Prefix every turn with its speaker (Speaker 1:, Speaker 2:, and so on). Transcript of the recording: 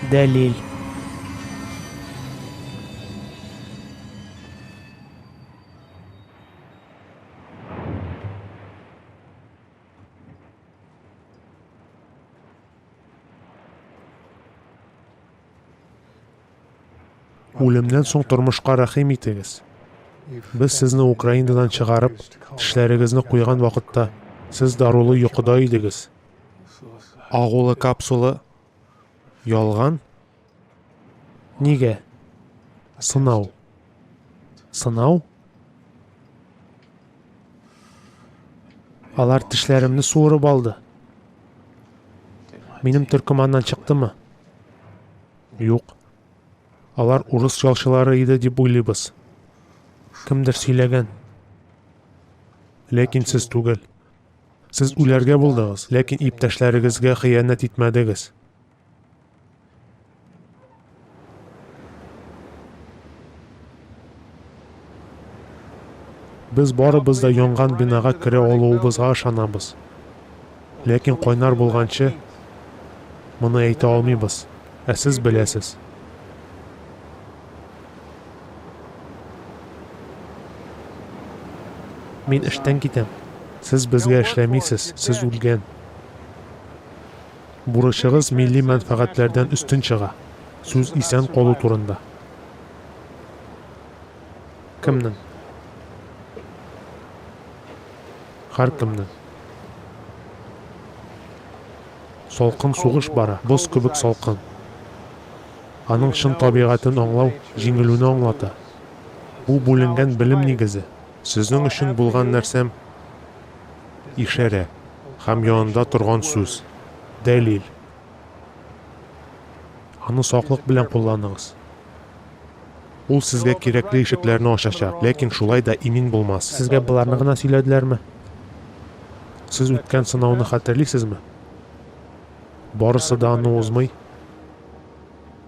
Speaker 1: Дәлил. Үлемнән соң тормышка рәхим итегез. Без сезне Украинадан чыгарып, тешләрегезне куйган вакытта, сез дарулы йокыда идегез. Агулы капсула ялган. Нигә? Сынау. Сынау? Алар тешләремне суырып алды. Минем төркеманнан чыктымы? Юк. Алар урыс ялчылары иде дип уйлыйбыз. Кемдер сөйләгән. Ләкин сез түгел. Сез үләргә булдыгыз, ләкин иптәшләрегезгә хыянәт итмәдегез. Без барыбыз да янган бинага керә алуыбызга ышанабыз. Ләкин кайнар булганчы моны әйтә алмыйбыз, ә сез беләсез. Мин эштән китәм. Сез безгә эшләмисез, сез үлгән. Бурычыгыз милли мәнфәгатьләрдән өстен чыга. Сүз исән калу турында. Кемнең? Һәркемнең. Салкын сугыш бара, боз кебек салкын. Аның чын табигатен аңлау җиңелүне аңлата. Бу бүленгән белем нигезе. Сезнең өчен булган нәрсәм ишарә һәм янында торган сүз, дәлил. Аны саклык белән кулланыгыз. Ул сезгә кирәкле ишекләрне ачачак, ләкин шулай да имин булмас. Сезгә боларны гына сөйләделәрме? Сез үткән сынауны хәтерлисезме? Барысы да аны узмый.